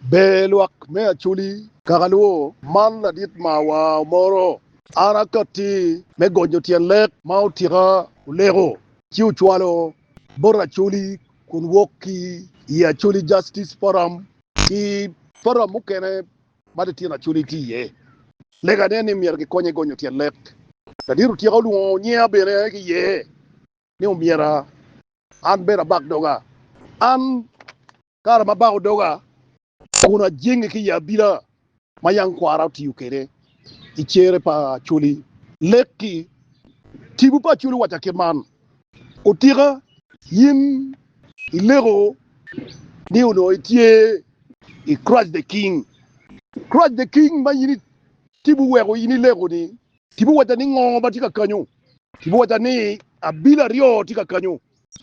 Ber lwak me Acholi. Kaka luwo, man ladit ma awa omoro. An akatti me gonyo tyen lek ma otika oleko ci ocwalo bot Acholi kun wok ki i Acholi Justice Forum ki forum mukene ma litino Acholi tye iye. Legane ni myero gikonye gonyo tyen lek. Ladit otika olwongo nyinga bene ki iye ni omyero an bene abak doga. An kare ma abako doga kun ajenge ki i abila ma yam kwara otiyo kwede i cere pa Acholi, lek-ki tipo pa Acholi owaca kit man, Otika, in ileko ni onongo itye i Crush the King. Crush the King ma in itibo weko in ileko-ni Tipo wacca ni ngo ma tye ka kanyo? Tipo wacca ni abila aryo tye ka kanyo.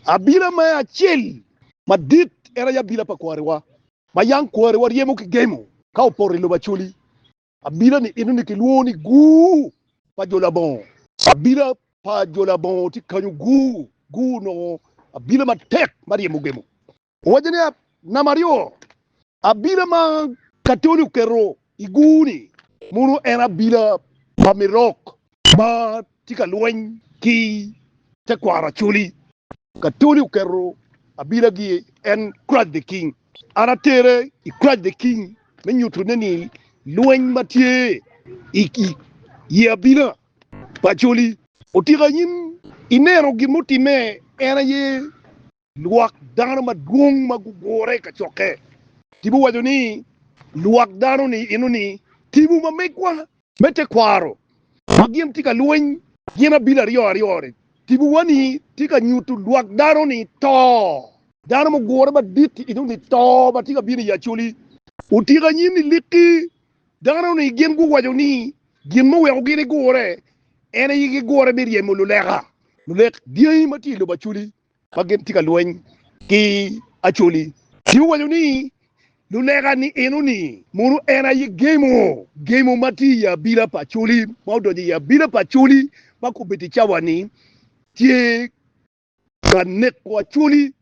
Abila me acel madit en aye abila pa kwariwa, ma yang kwariwa ryemo ki gemo ka opoto i lobo Acholi. Abila ni eno ni kilwongo ni Gur pa jo labongo. Abila pa jo labongo tye kanyo Gur. Gur onongo abila matek ma ryemo gemo. Owaco ni, Namba aryo, abila ma Katoli oketo i gur-ni mono en abila pa Mirok ma tye ka lweny ki tekwaro Acholi. Katoli oketo abilagi en Christ the King. An atere i Christ the King me nyutone ni lweny ma tye i ye abila pa Acholi otika i nyim ineno gin mutimme en aye Lwak dano madwong ma gugure i kacokke. Tipo waco ni, Lwak dano-ni inoni tipo ma megwa. Me tekwaro ma gin tye ka lweny gin abili aryo aryo-ni, tipowa-ni tye ka nyuto lwak dano-ni to. Dano mugure madit inoni to ma tye ka bino i Acholi. Otyeko anyim i likki. Dano-ni gin guwaco ni gin muweko gin gigure en aye gigure me ryemo luleka, lulek dyangi ma tye i lobo Acholi. ma gin tye ka lweny ki Acholi. Ci owaco ni, Lulega nieno-ni, mono en aye gemo, gemo ma tye i abila pa Acholi, ma odonyo i abila pa Acholi ma kobedo i cawa-ni, tye ka neko Acholi?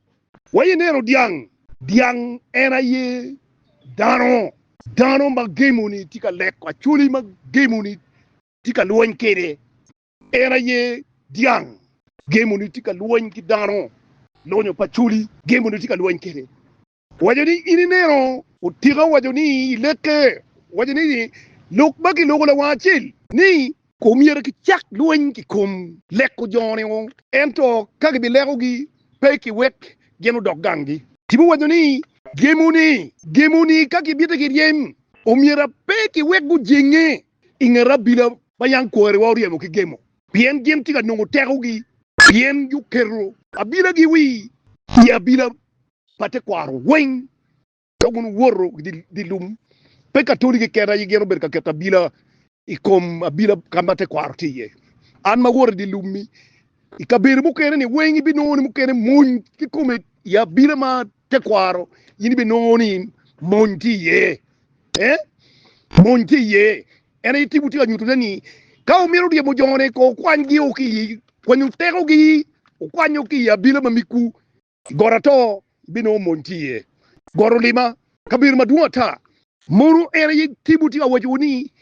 Wa ineno dyang, dyang en aye dano, dano ma gemo-ni tye ka neko Acholi ma gemo-ni tye ka lweny kwede. En aye dyang. Gemoni tye ka lweny ki dano. Lonyo pa Acholi, Gemoni tye ka lweny kwede. Owaco ni, In ineno? Otika owaco ni, Ileke. Owaco ni, Lok ma kiloko lawang acel ni. Omyero kicak lweny ki kom leko jo-ni o. Ento ka gibilekogi, pe ikiwek gin odok ganggi. Tipo owaco ni. Gemoni, Gemoni ka gibite ki ryem, omyero pe kiwek gujenge. I nget abila ma yam kwariwa oryemo ki gemo. Pien gin tye ka nongo tekogi. Pien guketo abilagi wi i abila pa tekwaro weng, ka guwoto i dye lum, pe ka toli keken aye gin obedo ka keto abila i kom abila ka ma tekwaro tye iye. An ma awoto i dye lum-mi i kabedo mukene-ni weng, ibinongo ni mukene mony kikome i abila man. Tekwaro, in ibinongo ni mony tye iye. Ee, mony tye iye. En aye tipo tye ka nyutone ni ka wumito ryemo jone, kong wukwanygi o ki i kwanyo tekogi, wukwanyo ki i abila ma migwu. I got ato, ibinongo mony tye iye. Got olima, kabedo madwong ata. Mono en aye tipo tye ka wacowu ni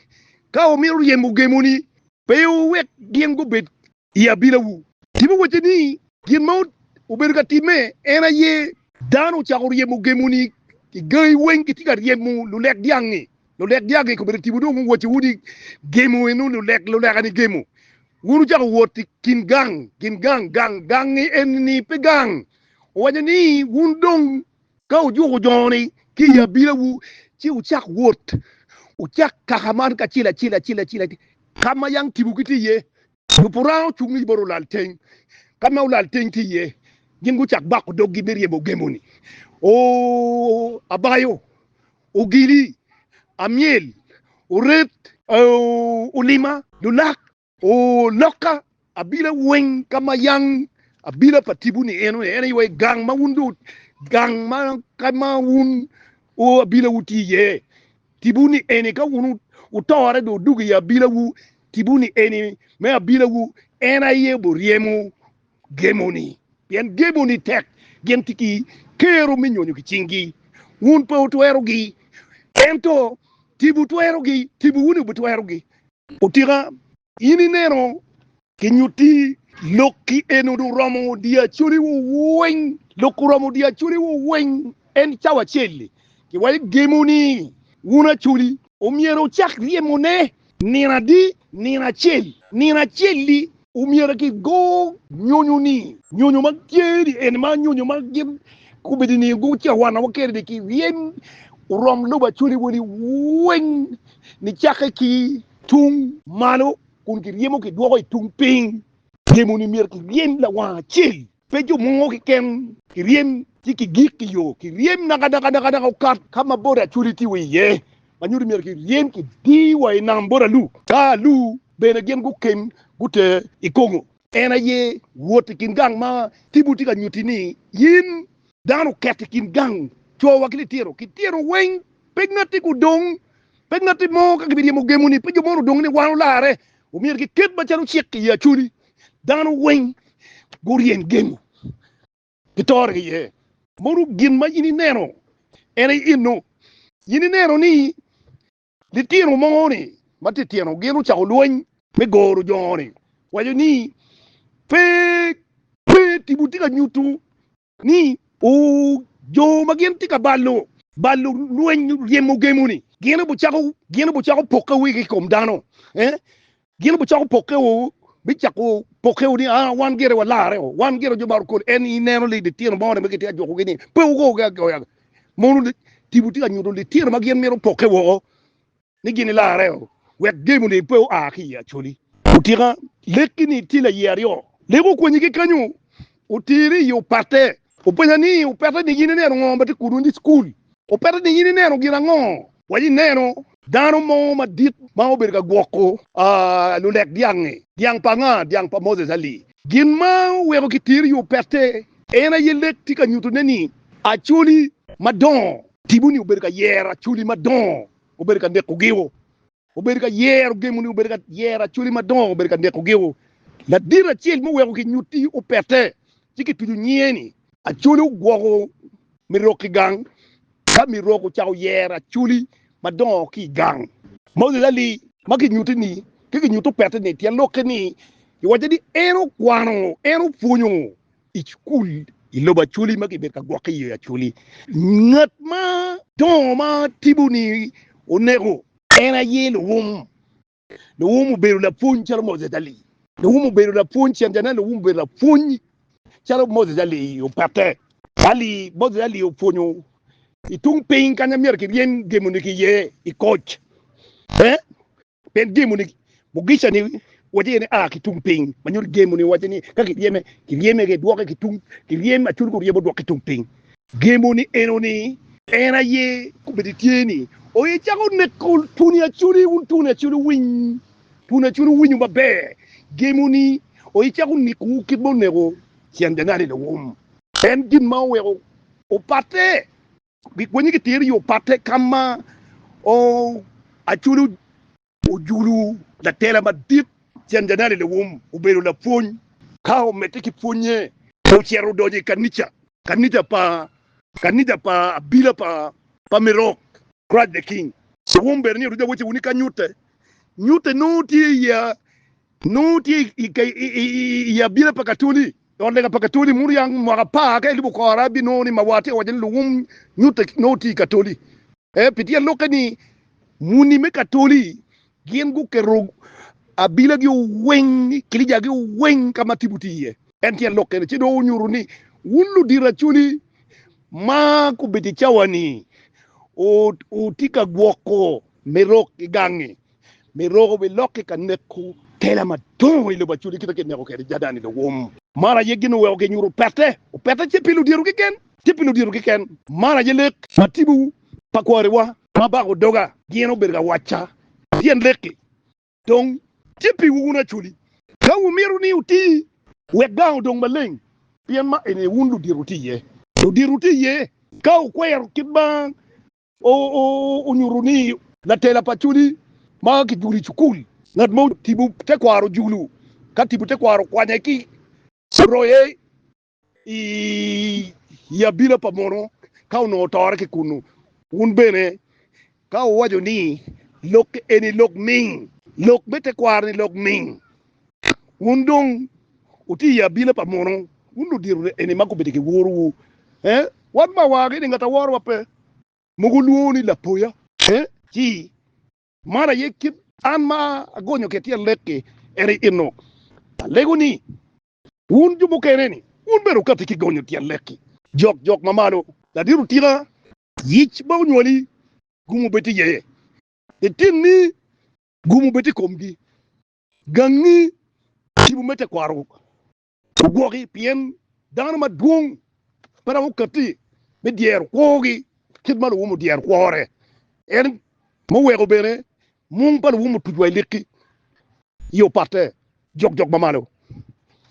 ka wumito ryemo gemoni, pe wuwek gin gubed i abilawu. Tipo wacce ni, Gin ma wubedo ka timme, en aye. Dano ocako ryemo gemoni i gangi weng, gitye ka ryemo lulek dyang-ngi. Lulek dyang-ngi kobedo tipo dong guwacciwu ni gemo eno, lulek, luleka-ni gemo. Wun wucako wot i kin gang, gin gang, gang, gang-ngi eni-ni pe gang. Owaco ni, Wun dong Ka wujuko jo-ni ki i abinawu, ci wucak wot, wucak kaka man kacel acel acel acel, ka ma yang tipogi tye iye. Lubo Ranga ocung ni bot olal teng, ka ma olal teng tye iye, gin gucak bako doggi me ryemo gemo ni, Oo, abayo, ogili, amyel, oret, oo, olima, lulak. O lokka, abila weng ka ma yang abila pa tibu ni eno, eno iwe gang ma wun do gang ma ka ma wun o abila wu ti ye tibu ni eni ka wun utore do dugo i abila wu tibu ni eni me abila wu en aye bo ryemo gemo ni pien gemo ni tek gin ti ki kero me nyonyo ki cing gi wun pe utwero gi ento tibu twero gi tibu wuni bi twero gi. Otika, in ineno ki nyutti lok ki eno do romo diyo acoli wo weng, lok oromo diyo acoli wo weng en cawa acel li, ki wa igemo ni wun acoli omyero wucak ryemo ne nino adi, nino acel, nino acel li omyero ki go nyonyo ni, nyonyo ma tye ni en ma nyonyo ma gin kubedi ni go cawana wa kene ni ki ryem orom lobo acoli wo ni weng nicakke ki i tung malo kun kiryemo kidwoko i tung piny. Ryemoni myero kiryem lawang acel, pe jo mogo keken. Kiryem ci kigik i yo, kiryem nakadakadakada okat ka ma boda acwali tye wa iye, ma nyuto myero kiryem kidii wa i nam bot alu. Ka alu bene gin guken guter i Kongo. En aye wot i kin gang ma Tibu tye ka nyutti-ni, in Dano oket i kin gang, cowa ki litino, ki tyeno weng, pe ngatti gudong, pe ngatti mo ka gibiryemo gemoni, pe jo mo odong ni wan olarre, omyero giket macalo cik i Acholi, dano weng guryem gemo, gitore iye. Mono gin ma in ineno, en aye enno, in ineno ni Litino mogo ni ma titino gin ocako lweny me goro jongo ni waco ni pe pe tipo tye ka nyutu ni o jo ma gin tye ka balo balo lweny ryemo gemo ni gin obi cako gin obi cako poke wigi ikom dano eh Gin obicako pokewu, bicako pokewu ni, Ah, wan gire walarre o, wan gire jo maro kodi. En ineno li litino mo ni ma kitye ka jukogi ni pe wugogi agoya? Mono tipo tye ka nyuto litino ma gin mito pokke woko ni gin ilarre o, wek demoni pe oa ki i Acholi? Otika, Lekki-ni tye laye aryo. Lek okwenyi ki kenyo, oteri i yo patte. Openya ni, Opeta ni yin ineno ngo ma tye kudwa ni school? Opeta ni yin ineno gin ango? Waci ineno dano mo madit ma obedo ka gwoko lulek dyangi, dyang pa nga? Dyang pa Moses Ali. Gin ma oweko ki teri i opete en aye lek tye ka nyuto ne ni acholi madongo tipo ni obedo ka yero acholi madongo obedo ka neko gio. Obedo ka yero gemo ni obedo ka yero acholi madongo obedo ka neko geo. Ladit acel mo weko ki nyutti opette ci ki tucu nyinge ni. Acholi ogwoko mirok ki gang. Ka mirok ocako yero acholi madongo ki gang. Moni lali ma ki nyutti ni ki ki nyutti opette ni tyen lokke ni iwace ni en okwano en opwonyo I cukul i lobo Acholi ma kibedo ka gwokke iye Acholi, ngat ma dongo ma tipo-ni oneko, en aye Luwum. Luwum obedo lapwony calo Moses Ali. Luwum obedo lapwony, Ciancanan Luwum obedo lapwony calo Moses Ali opette. Ali, Moses Ali opwonyo i tung piny kanya myero kiryem gemoni ki iye i koc. Eh? Pien gemo ni Mugica ni wace ni a ki tung piny, ma nyuto gemo ni wace ni ka kiryeme, kiryeme ki dwoke ki tung, kiryem acur ki oryemo dwok ki tung piny. Gemo ni eno ni en aye kombeddi tye ni oye cako neko tuni aculi wun tuni aculi winy, tuni aculi winyo maber. Gemo ni oye cako nekowu kit ma oneko Cianjanani lawum. En gin ma oweko opatte Gikwenye ki tero i yo patte ka ma Acoli ojulu latela madit cen Janali Lewum obedo lapwony. Ka omedde ki pwonye, ocito odonyo i kanica, kanica pa kanica pa abila pa pa Mirok, Christ the King. Lewum bene ni oruja wece wunu ka nyutte. Nyutte nongo tye i Nongo tye i abila pa Katoli, i ot lega pa Katoli, muto yam mwaka apar ka elubo kora ibinongo ni mawa tye ka waco ni luwum nyutte nongo tye i Katoli. Ee, pi tyen lokke ni muni me Katoli gin guketo abilagi weng, kilijagi weng ka ma tipo tye iye. En tyen lokke ni ci dong onyuto ni wun ludito Acholi ma gubedo i cawa-ni wutye ka gwoko mirok ki gangi. Miroku biloki ka neko tela madongo i lobo Acudi kite ki ineko kede Jadan i lowom. Man aye gin oweko ginyuto opete, opete tye pi ludyeru keken, tye pi ludyeru keken. Man aye lek ma tipo pa kwariwa ma bako doga gin obedo ka wacca, pien lek-ki dong tye piwu wun Acudi, ka wumito ni wuti wek gang odong maleng, pien ma eni aye wun ludyeru tye iye. Ludyeru tye iye ka wukwero kit ma onyuto ni latela pa codi ma kijulo i cukul. Ngat ma otibo tekwaro julo ka tibo tekwaro okwanye ki roye i abila pa mono ka onongo otore ki kunnu. Wun bene ka wuwaco ni, Lok eni lok ming, lok me tekwaro-ni lok ming, Wun dong wutye i abila pa muno, wun ludito eni ma gubedo ki worowu. Ee, wan ma wagi ni ngat a worowa pe, mogo lwongo ni lapoya. Ee, ci, man aye kit an ma agonyo ki tyen lek-ki, en aye enno. Alego ni, wun jo mukene-ni, wun bene wukatti ki gonyo tyen lek-ki. Jok, jok ma malo, ladit otika, yic ma onywali, gumo bed tye iye, litinni gumo bed tye i komgi, Gangi tipo me tekwaro ogwoki, pien dano madwong pe dok okatti me dyero kwogi kit ma luwum odyero kwore. En muweko bene mung pa luwum otuc wa i likki i opatte jokjok mamalo.